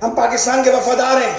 ھم پاڪستان ڪي وفادار ھين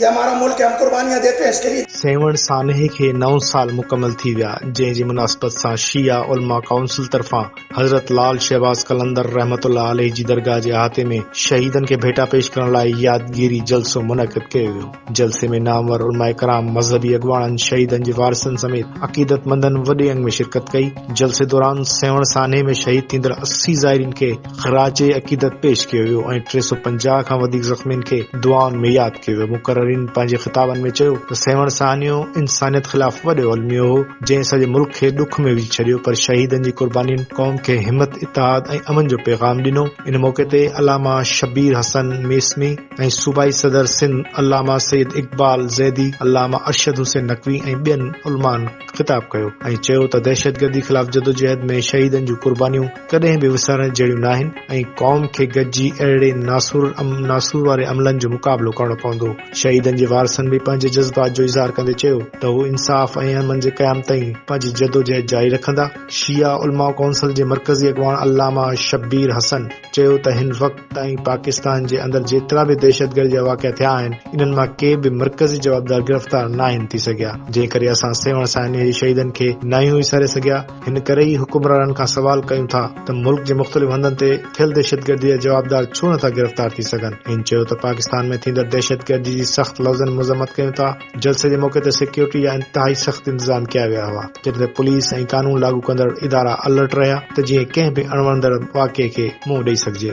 يھ ھمارا ملڪ ھي ھم قربانيان ديتي ھين اس ڪي ليي. سيوھڻ سانحي کي نو سال مڪمل ٿي ويا جنهن جي مناسبت سان شيعه علماء ڪائونسل طرفان حضرت لعل شهباز قلندر رحمة الله عليه جي درگاهه جي احاطي ۾ شهيدن کي ڀيٽا پيش ڪرڻ لاء يادگيري جلسو منعقد ڪيو ويو. جلسي ۾ نامور علماء ڪرام، مذهبي اڳواڻن، شهيدن جي وارثن سميت عقيدتمندن وڏي انگ ۾ شرڪت ڪئي. جلسي دوران سيوهڻ سانحي ۾ شهيد ٿيندڙ اسي زائرين کي خراج عقيدت پيش ڪيو ويو ۽ ٽي سؤ پنجاهه کان وڌيڪ زخمين کي دعائن ۾ ياد ڪيو ويو. مقررين پنهنجي خطابن ۾ چيو ته سيوهڻ سانحو انسانيت خلاف وڏو الميو هو، جنهن سڄي ملڪ کي ڏک ۾ وجهي ڇڏيو پر شهيدن جي قربانين قوم کي همت، اتحاد ۽ امن جو پيغام ڏنو. ان موقعي تي علامه شبير حسن ميسمي، ۽ صوبائي صدر سنڌ علامه سيد اقبال زيدي، علامه ارشد حسين نقوي ۽ ٻين علمائن خطاب ڪيو ۽ چيو ته دهشتگردي خلاف جدوجهد ۾ شهيدن جون قربانيون ڪڏهن به وسارڻ جهڙيون ناهن ۽ قوم کي گڏجي اهڙي ناسور ناسور واري عملن جو مقابلو ڪرڻو پوندو. شهيدن جي وارثن به پنهنجي جذبات جو اظهار ڪندي چيو ته هو انصاف ۽ امن جي قيام تائين پنهنجي جدوجهد جاري رکندا. شيعه علماء ڪونسل جي مرڪزي اڳواڻ علامه شبير حسن، چيو ته هن وقت تائين پاڪستان جي اندر جيترا به دهشتگردي جا واقعا ٿيا آهن، انهن مان ڪي به مرڪزي جوابدار گرفتار ناهن ٿي سگهيا، جنهن ڪري اسان سيوهڻ سانحي جي شهيدن کي ناهيون وساري سگهيا، هن ڪري ئي حڪمرانن کان سوال ڪيون ٿا ته ملڪ جي مختلف هنڌن تي ٿيل دهشتگردي جا جوابدار ڇو نٿا گرفتار ٿي سگهن، هن چيو ته پاڪستان ۾ ٿيندڙ دهشتگردي جي سخت لفظن مذمت ڪيون ٿا. جلسي جي موقعي تي سيڪيورٽي جا انتهائي سخت انتظام ڪيا ويا هئا، جڏهن ته پوليس ۽ قانون لاڳو ڪندڙ ادارا الرٽ رهيا ته جيئن ڪنهن به اڻوڻندڙ واقعي کي منهن ڏئي سگهجي.